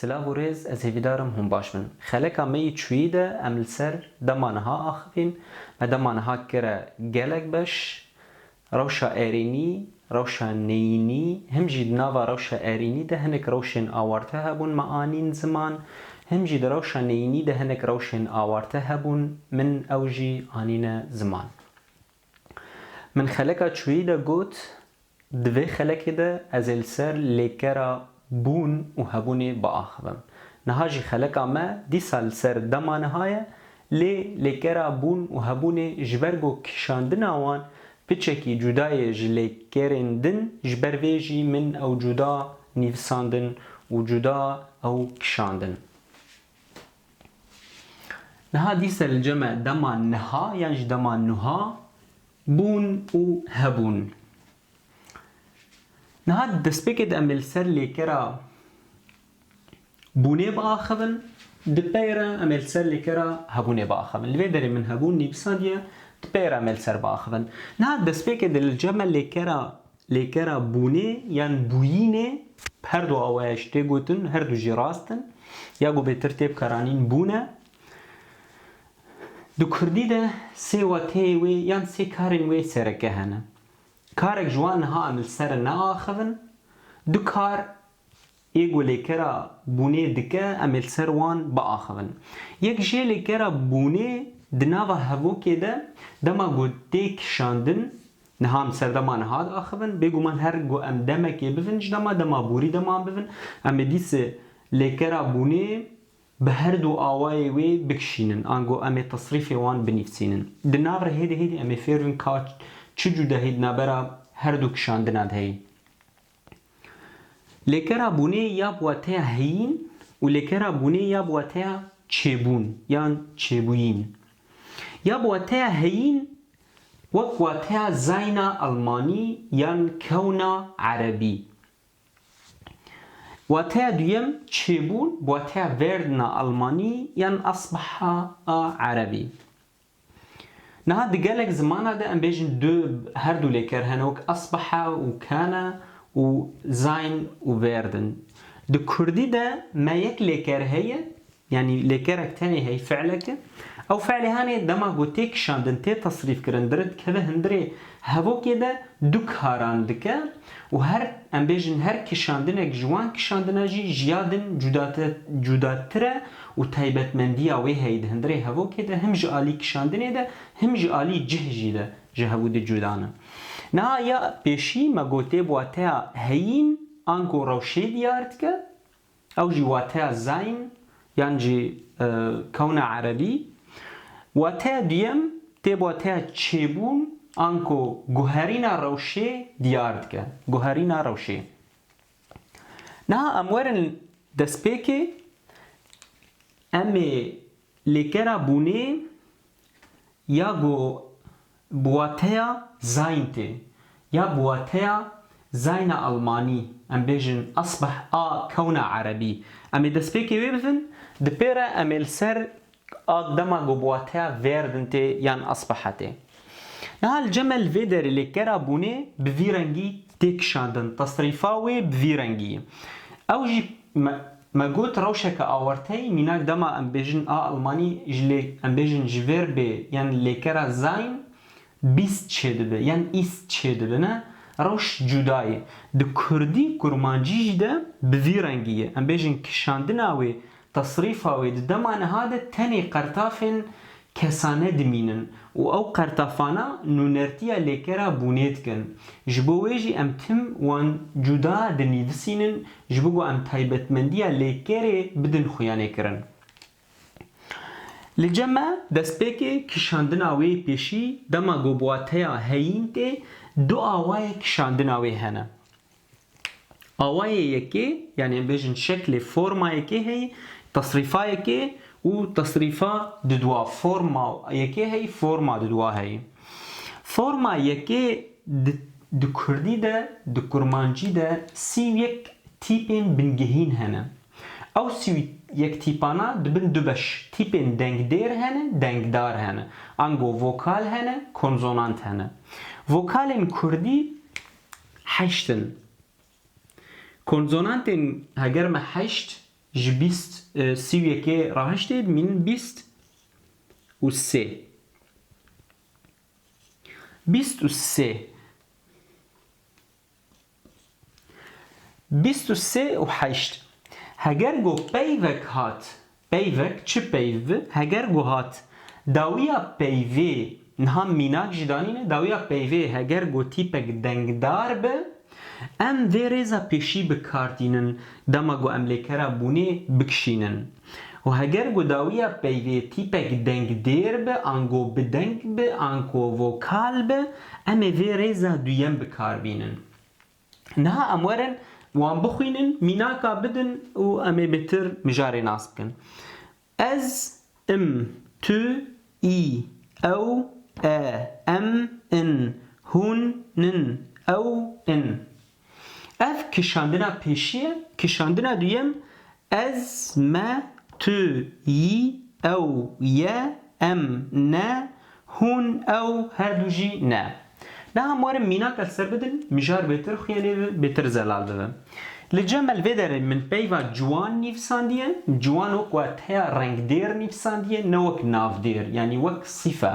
Silav û rêz ez hêvîdar im hûn baş bin. Xeleka me yê çûyî de em li ser dema niha axivîn. Me dema niha kire gelek beş. Rewşa erênî Rewşa neyînî, him jî di nava rewşa erînî de hinek rewşên awarte hebûn, me anîn ziman, him jî di rewşa neyînî de hinek rewşên awarte hebûn, min ew jî anîne ziman. Min xeleka çûyî de got, di vê xelekê de ez ê li ser lêkera bûn û hebûnê biaxivim. Niha jî xeleka me dîsa li ser dema niha ye, Lê lêkera bûn û hebûnê ji ber ku kişandina wan piçekî cuda ye ji lêkerên din ji ber vê jî min ew cuda nîvisandin û cuda ew kişandin. Niha dîsa li cem e dema niha yan jî dema nuha bûn û hebûn. Niha di destpêkê de em ê li ser lêkera bûnê biaxivin, di pey re em ê li ser lêkera hebûnê biaxivin. Li vê derê min hebûn nivîsandiye, di pey re em ê li ser biaxivin. Niha destpêkê di li cem e lêkera lêkera bûnê yan bûyînê bi her du awayê ji tê gotin, her du jî rast in. Ya ku bêtir tê bikaranîn bûn e. Di kurdî de sê wateyê wê yan sê karên wê sereke hene. Karek ji wan niha em li ser neaxivin, du kar Yê ku lêkera bûnê dike em ê li ser wan biaxivin. Yek jê lêkera bûnê di nava hevokê de dema ku tê kişandin niha em serdema niha diaxivin. Bêguman her ku em demekê bivin ji dema, dema borî dema em bivin em ê dîsê lêkera bûnê bi her du awayê wê bikişînin ango em ê tesrîfê wan binivîsînin. Di nav re hêdî hêdî em ê fêr bin ka çi cûdahî di navbera her du kişandina de heye. Lêkera bûnê ya bi wateya heyîn û lêkera bûnê ya bi wateya çêbûn yan çêbûyîn. Ya bi wateya heyîn wek wateya zayna elmanî yan kewna erebî. Wateya duyem çêbûn bi wateya verdna elmanî yan asbaha a erebî. Niha di gelek zimana de em bêjin du her du lêker hene wek asbaha û kana û zayn û vêrd in. Di kurdî de me yek lêker heye yanî lêkerek tenê hey fi'leke. Ew fi'lê hanê dema ku tê kişandin tê tesrîfkirin dire dikeve hindirê hevokê de du karan dike. Û her, em bêjin her kişandinek ji wan kişandina jî ji ya din cudatir e û taybetmendiya wê heyî di hundirê hevokê de him ji alî kişandinê de him ji alî cih jî de ji hevû di cuda ne. Niha ya pêşî me gotê bi wateya heyîn ango rewşê diyar dike, Ew jî wateya zayn yan jî kewna erebî. Wateya duyem tê bi wateya çêbûn anko guherîna rewşê diyar dike. Guherîna rewşê. Niha em werin destpêkê, em ê Lêkera bûnê ya go bi wateya zayn tê ya bi wateya zayna elmanî, em bêjin asbeh a kewna erebî. Em ê destpêkê wê bibin, di pê re em ê li ser a dema go bi wateya werden tê yan asbeha tê. Niha li cem e li vê derê lêkera bûnê bi vî rengî tê kişandin. Tasrîfa wê bi vî rengî ye. Ew jî me me got rewşeke awarte ye, mînak dema em bêjin a elmanî ji lê em bêjin ji vêr bê yan lêkera zayn bîst çêdibe yan îst çêdibine rewş cuda ye. Di kurdî kurmancî jî de bi vî rengî ye. Em bêjin kişandina wê Tesrîfa wê di dema niha de tenê qertafên kesane dimînin û ew qertafana nûnertiya lêkera bûnê dikin. Ji bo wê jî em tim wan cuda dinîvisînin ji bo ku em taybetmendiya lêkerê bidin xuyanêkirin. Li cem e destpêkê kişandina wê pêşî dema ku bi wateya heyîn tê du awayê kişandina wê hene. Awayê yekê yanî em bêjin şeklê forma yekê heyî tesrîfa yekê û tesrîfa didwa forma yekê heyî forma didwa heyî. Forma yekê di di kurdî de di kurmancî de sî û yek tîpên bingehîn hene. Ew sî û yek tîpana dibin du beş, tîpên dengdêr hene, dengdar hene. Ango vokal hene, konsonant hene. Vokalên kurdî Heşt in. Konsonantên heger me heşt ji bîst sî û yekê rahiştê dimînin bîst û sê. Bîst û sê. Bîst û sê û heşt. Heger got peyvek hat Peyvek çi peyv bi? Heger ku hat dawiya peyvê niha mînak jî danîne, dawiya peyvê heger ku tîpek dengdar bi, em vê rêza pêşî bi kar tînin dema ku em lêkera bûnê bikişînin. Û heger ku dawiya peyvê tîpek dengdêr bi, ango bideng bi, anko vokal bi, em ê vê rêza duyem bi kar bînin. Niha em werin wan bixwînin, mînaka bidin û em ê bêtir mijarê nas bikin. Ez, im, tu, î, ew, e, em, in, hûn, nin, ew, in. Ev kişandina pêşî ye, kişandina duyem Ez, me, tu, yî, ew, ye, em, ne, hûn, ew, her du jî ne. Niha em werin mînak li ser bidin, mijar bêtir xuya lê bibe, bêtir zelal bibe. Li Cemel vê derê min peyva ciwan nivîsandiye, ciwan wek wateya rengdêr nivîsandiye ne wek navdêr, yanî wek sîfe.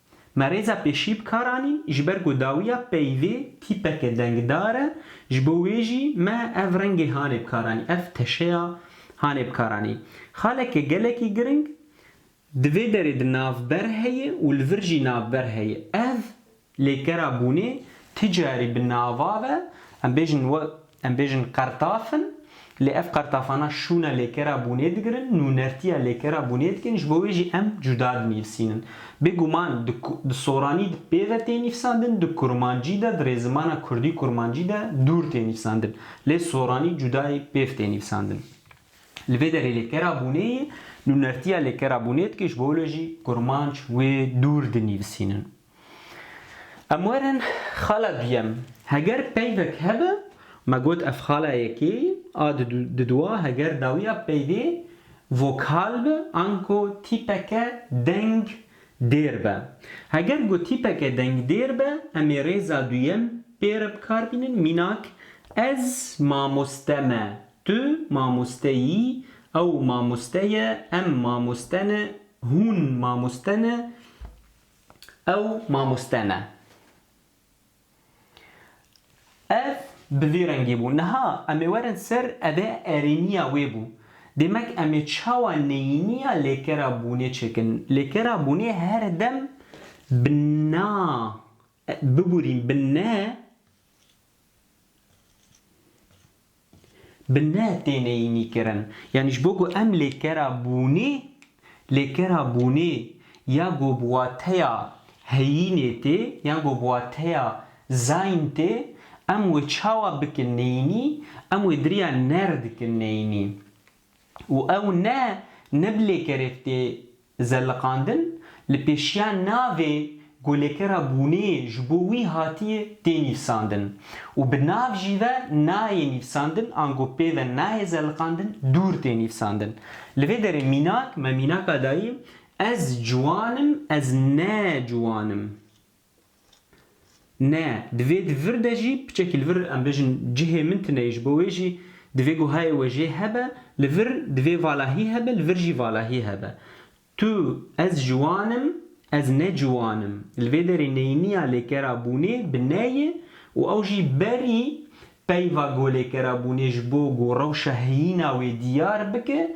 Me rêza pêşî bi kar anî ji ber ku dawiya peyvê tîpeke dengdar e, ji bo wê jî me ev rengê hanê bi kar anî, ev teşeya hanê bi kar anî. Xaleke gelekî giring, di vê derê di navber heye û li vir jî navber heye. Ev lêkera bûnê ti carî bi nava ve, em bêjin we Em bêjin qertaf in, lê ev qertafana şûna lêkera bûnê digirin, nûnertiya lêkera bûnê dikin, ji bo wê jî em cuda dinivîsînin. Bêguman di soranî di pê ve tê nivîsandin, di kurmancî de, di rêzimana kurdî kurmancî de dûr tê nivîsandin. Lê soranî cudayê pêv tê nivîsandin. Li vê derê lêkera bûnê ye, nûnertiya lêkera bûnê dike ji bo wê jî kurmanc wê dûr dinivîsînin. Em werin xala duyem. Heger peyvek hebe, me got ev xala yekê ye, a diduwa heger dawiya peyvê vokal be anko tîpeke deng dêr be. Heger ku tîpeke deng dêr be, em ê rêza duyem pê re bikar bînin, mînak, ez mamoste me, tu mamoste yî, ew mamoste ye, em mamoste ne, hûn mamoste ne, Ew mamoste ne. Ev bi vî rengî bû. Niha em ê werin ser ev ê erêniya wê bû. Dêmek em ê çawa neyîniya lêkera bûnê çêkin. Lêkera bûnê her dem bi na bibûrîn bi ne. Bi ne têne înîkirin. Yanî ji bo ku em lêkera bûnê, lêkera bûnê ya ku bi wateya heyînê tê yan ku bi wateya zayn tê, em wê çawa bikin neyînî, em wê diriya ner dikin neyînî. û ew ne ne bi lêkerê tê zeliqandin, li pêşiya navê ku lêkera bûnê ji bo wî hatiye tê nîvsandin û bi nav jî ve nayê nîvsandin ango pê ve nayê zeliqandin dûr tê nîvsandin. Li vê derê mînak me mînaka dayî, ez ciwan im, ez ne ciwan im. Ne, divê di vir de jî piçekî li vir em bêjin cihê min tune ye ji bo wê jî divê guhayê we jê hebe, li vir divê valahî hebe li vir jî valahî hebe. Tu, ez ciwan im, ez ne ciwan im. Li vê derê neyniya lêkera bûnê bi ne ye û ew jî berî peyva golêkera bûnê ji bo ku rewşa heyîna wê diyar bike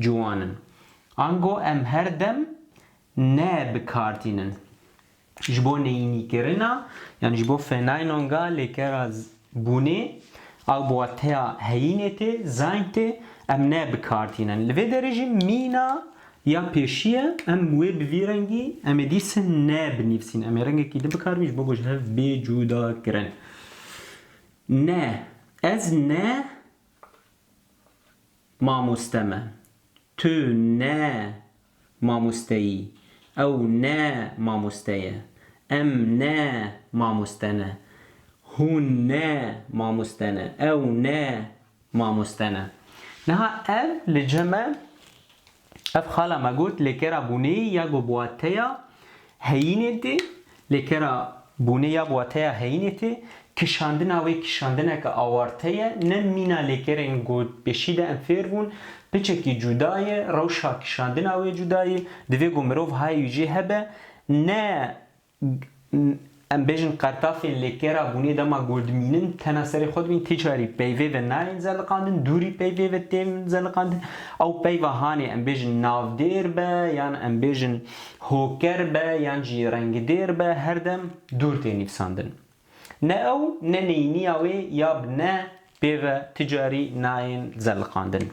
Ciwan in. Ango em her dem ne bi kar tînin. Ji bo neyînîkirina yan ji bo fenaynonga lêkera bûnê ew bi wateya heyînê tê, zaying tê, em ne bi kar tînin. Li vê derê jî mîna ya pêşî ye, em wê bi vî rengî em ê dîsin ne binivîsîn. Em ê rengekî di bi kar bîn ji bo ku ji hev bê cudakirin. Ne, ez ne Mamoste me. Tu ne mamosteyî. Ew ne mamoste ye. Em ne mamoste ne. Hûn ne mamoste ne. Ew ne mamoste ne. Niha ev li cem e Ev xala me got lê kera bûnê ya ku bi wateya heyînê tê, lê kera bûnê ya bi wateya heyînê tê, kişandina wê kişandineke awarte ye, ne mîna lê kerên gotpêşî de em fêr bûn, piçekî cuda ye, rewşa kişandina wê cuda ye, divê ku mirov hay wî jê hebe, ne Em bêjin qertafên li kêra bûnê dema ku dimînin tena serê xwe dimînin, ti carî peyvê ve nayên zeliqandin, dûrî peyvê ve tên zeliqandin. Ew peyva hanê em bêjin navdêr be yan em bêjin hoker be yan jî rengdêr be her dem dûr tê nivîsandin. Ne ew ne neyniya wê ya bi ne pêve ti carî nayên zeliqandin.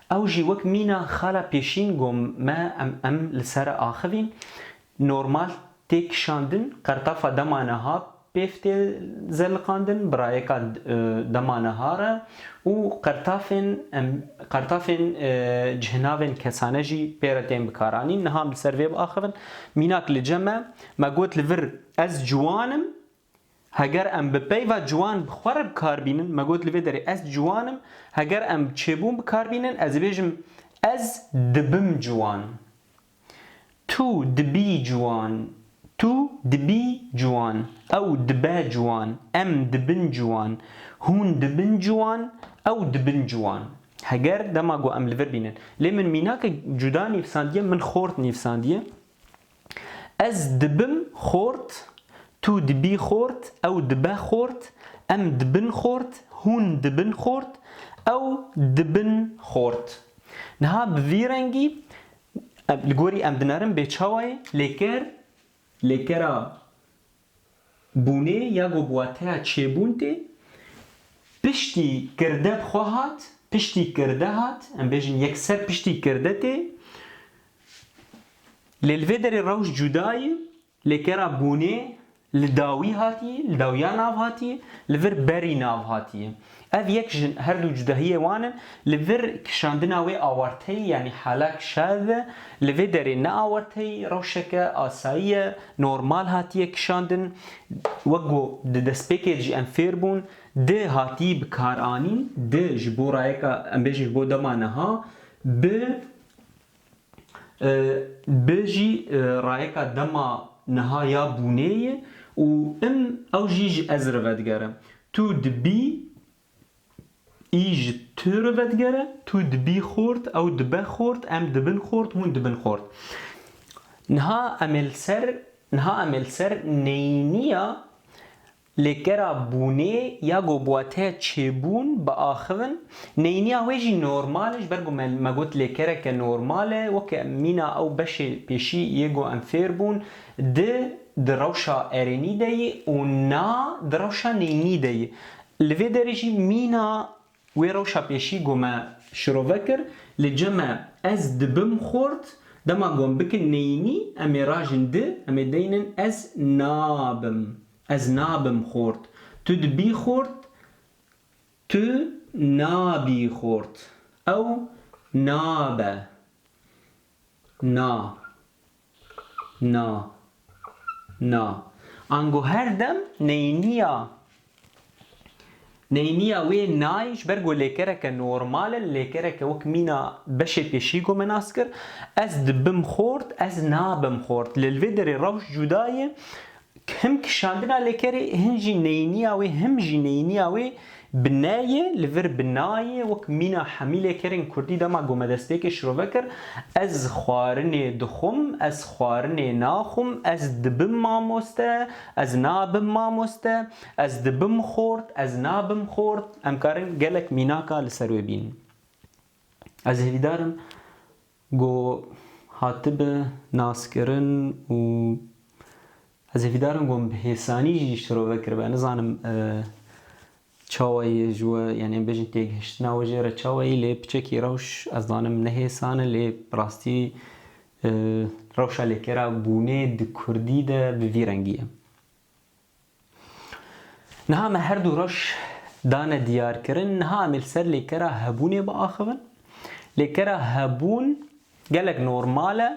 Ew jî wek mîna xala pêşîn got me em em li ser axivîn normal tê kişandin, qertafa dema niha pêv tê zeliqandin, birayeka dema niha re û qertafên em qertafên cihinavên kesane jî pê re tên bikaranîn, niha em li ser vê biaxivin. Mînak li cem e, me got li vir ez ciwan im, Heger em bi peyva ciwan bi xwe re bi kar bînin, me got li vê derê ez ciwan im, heger em bi çêbûn bi kar bînin ez dibêjim ez dibim ciwan. Tu dibî ciwan, tu dibî ciwan, ew dibe ciwan, em dibin ciwan, hûn dibin ciwan, ew dibin ciwan. Heger dema got em li vir bînin. Lê min mînakek cuda nivîsandiye, min xort nivîsandiye. Ez dibim xort, tu dibî xort, ew dibe xort, em dibin xort, hûn dibin xort, ew dibin xort. Niha bi vî rengî li gorî em dinerin bê çawayê lêker lêkera Bûnê ya ku bi wateya çêbûn tê, piştî kirde bi xwe hat, piştî kirde hat, em bêjin yekser piştî kirde tê. Lê li vê derê rewş cuda ye, lê kera bûnê li dawî hatiye, li dawiya nav hatiye, li vir berî nav hatiye. Ev yek jin her du cudahiyê wan in, li vir kişandina wê awarteyî yanî halak şav e, li vê derê ne awarteyî rewşeke asayî ye, normal hatiye kişandin, wek ku di destpêkê de jî em fêr bûn, di hatiyî bikaranîn, di ji bo rayeka em bêjin ji bo dema niha bi bi jî rayeka dema niha ya bûnê ye û im ew jî ji ez re vedigere. Tu dibî î ji tu re vedigere, tu dibî xort, ew dibe xort, em dibin xort, hûn dibin xort. Niha em ê li ser niha em ê li ser neyîniya Lê gera bûnê ya ku bi wateya çêbûn biaxivin, neyniya wê jî normal e, ji ber ku me me got lêkereke normal e, weke mîna ew beşê pêşî yê ku em fêr bûn, di di rewşa erênî de yê û na di rewşa neynî de yê. Li vê derê jî mîna Wê rewşa pêşî ku me şirove kir, li cem me ez dibim xort, dema ku em bikin neyînî, em ê rajin di, em ê deynin ez nabim, ez nabim xort, tu dibî xort, tu nabî xort, ew nabe. Na Na Na Ango her dem neyniya neyniya wê nayê ji ber ku lêkereke normal e, lêkereke wek mîna beşê pêşî ku me nas kir, ez dibim xort, ez nabim xort. Lê li vê derê rewş cuda ye Him kişandina lêkerê hin jî neyîniya wê him jî neyîniya wê bi ne yê li vir bi na yê wek mîna hemî lêkerên kurdî dema gomedestpêkê şirove kir ez xwarinê dixwim ez xwarinê naxwim ez dibim mamoste ez nabim mamoste ez dibim xort ez nabim xort em karin gelek mînaka li ser wê bînin ez hevîdarim Ku hatibe naskirin û ez hêvî darim got bi hêsanî jî şirove kiribe. Nizanim çawa ye ji we yanî em bêjin têgihiştina we jê re çawa ye lê piçekî rewş ez dizanim ne hêsan e lê bi rastî rewşa lêkera bûnê di kurdî de bi vî rengî ye. Niha me her du roj dane diyarkirin, niha em ê li ser lêkera hebûnê biaxivin. Lêkera hebûn gelek normal e.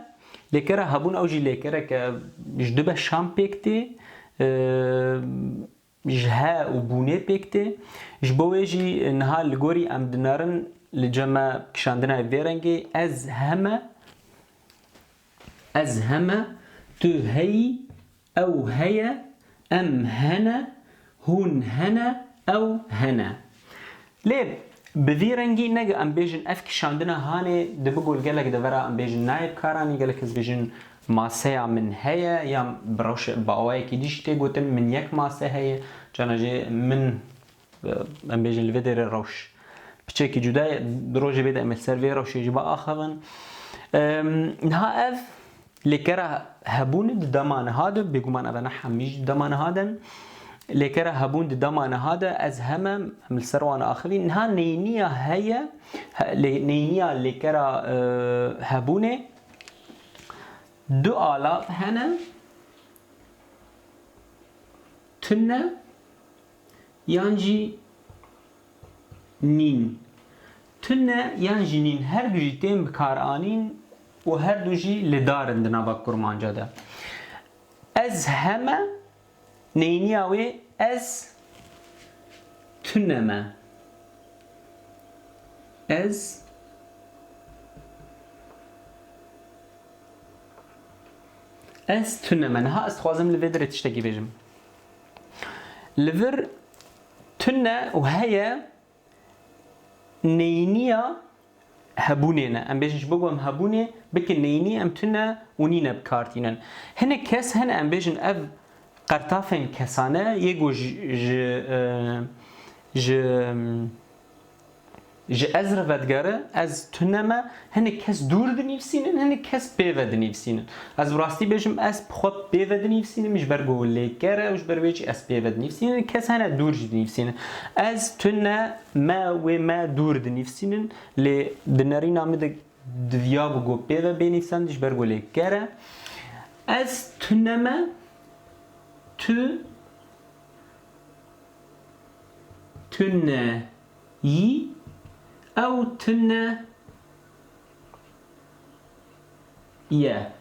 Lêkera hebûn ew jî lêkereke ji du beşan pêk tê. Ji he û bûnê pêk tê. Ji bo wê jî niha li gorî em dinarin li cem e kişandina ye vê rengê, ez heme, ez heme, tu heyî, Ew heye, em hene, hûn hene, ew hene. Lê bi vî rengî nege em bêjin ev kişandina hanê dibi gul gelek devera em bêjin nayê bi kar anî gelek kes bêjin maseya min heye yan bi rewşe bi awayekî dî jî tê gotin min yek mase heye cana jê min Em bêjin li vê dêrê rewş piçekî cuda ye. Di rojê vê de em ê li ser vê rewşê jî biaxivin. Niha ev lêkera hebûn di dema niha de bêguman ev ne hemî jî di dema niha de ne lêkera hebûn di dema niha de ez hem em em li ser wan axivîn. Niha neyniya heye neyniya lêkera hebûnê du alav hene tune Yan jî nîn. Tune yan jî nîn her du jî tên bikaranîn û her du jî li dar in di nava kurmanca de. Ez heme neyniya wê ez tune me. Ez Ez tune me. Niha ez dixwazim li vê derê tiştekî bêjim. Li vir tune û heye neyîniya hebûnê ne. Em bêjin ji bo ku em hebûnê bikin neyînî em tune û nîne bi kar tînin. Hinek kes hene em bêjin ev qertafên kesane yê ku ji ji ji Ji ez re vedigere, ez tune me, hinek kes dûr dinivîsînin, hinek kes pê ve dinivîsînin. Ez bi rastî bêjim ez bi xwe pê ve dinivîsînim ji ber ku lêker e û ji ber wê jî ez pê ve dinivîsînim. Hinek kes hene dûr jî dinivîsînin. Ez tune me wê me dûr dinivîsînin lê di nerîna min de diviyabû ku pê ve bê nivîsandin ji ber ku lêker e. Ez tune me, tu. tune yî ew tune ye.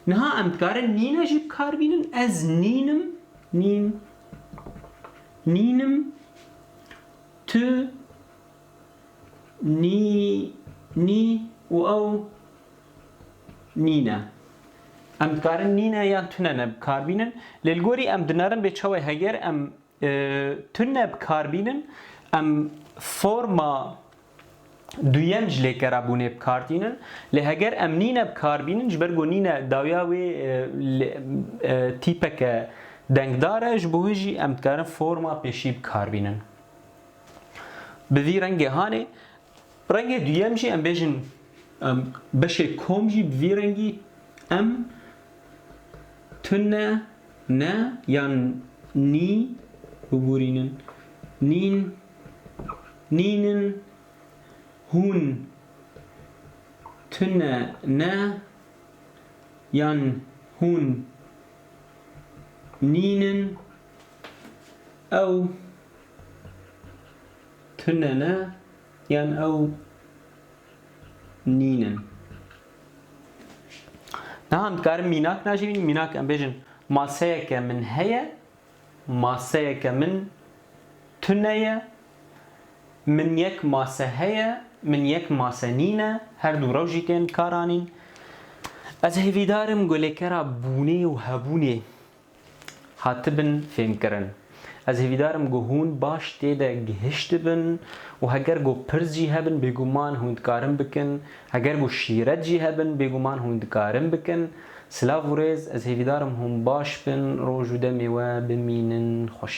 Niha em dikarin nîne jî bi kar bînin, ez nîn im, nîn, nîn im, tu Nî, nî û ew nîne. Em dikarin nîne yan tunene bi kar bînin. Lê li gorî em dinarin bê çawa ye? Heger em tune bi kar bînin, em forma duyem ji lêkerabûnê bi kar tînin. Lê heger em nîne bi kar bînin, ji ber ku nîne dawiya wê tîpeke dengdar e, ji bo hin jî em dikarin forma pêşî bi kar bînin. Bi vî rengê hanê. Rengê duyem jî em bêjin beşê kom jî bi vî rengî em tune ne yan nî bibûrînin. Nîn, nînin, hûn, tune ne yan hûn, nînin, ew, Tune ne yan ew nîn in. Niha em dikarin mînak najîvînin, mînak em bêjin maseyeke min heye, maseyeke min tune ye, min yek mase heye, min yek mase nîn e, her du rew jî tên kar anîn. Ez hêvîdar im golêkera bûnê û hebûnê hatibin fêmkirin. Ez hêvîdar im ku hûn baş tê de gihiştibin û heger ku pirs jî hebin bêguman hûn dikarin bikin, heger ku şîret jî hebin bêguman hûn dikarin bikin. Silav û rêz, ez hêvîdar im hûn baş bin, roj û demê we bimînin xweş.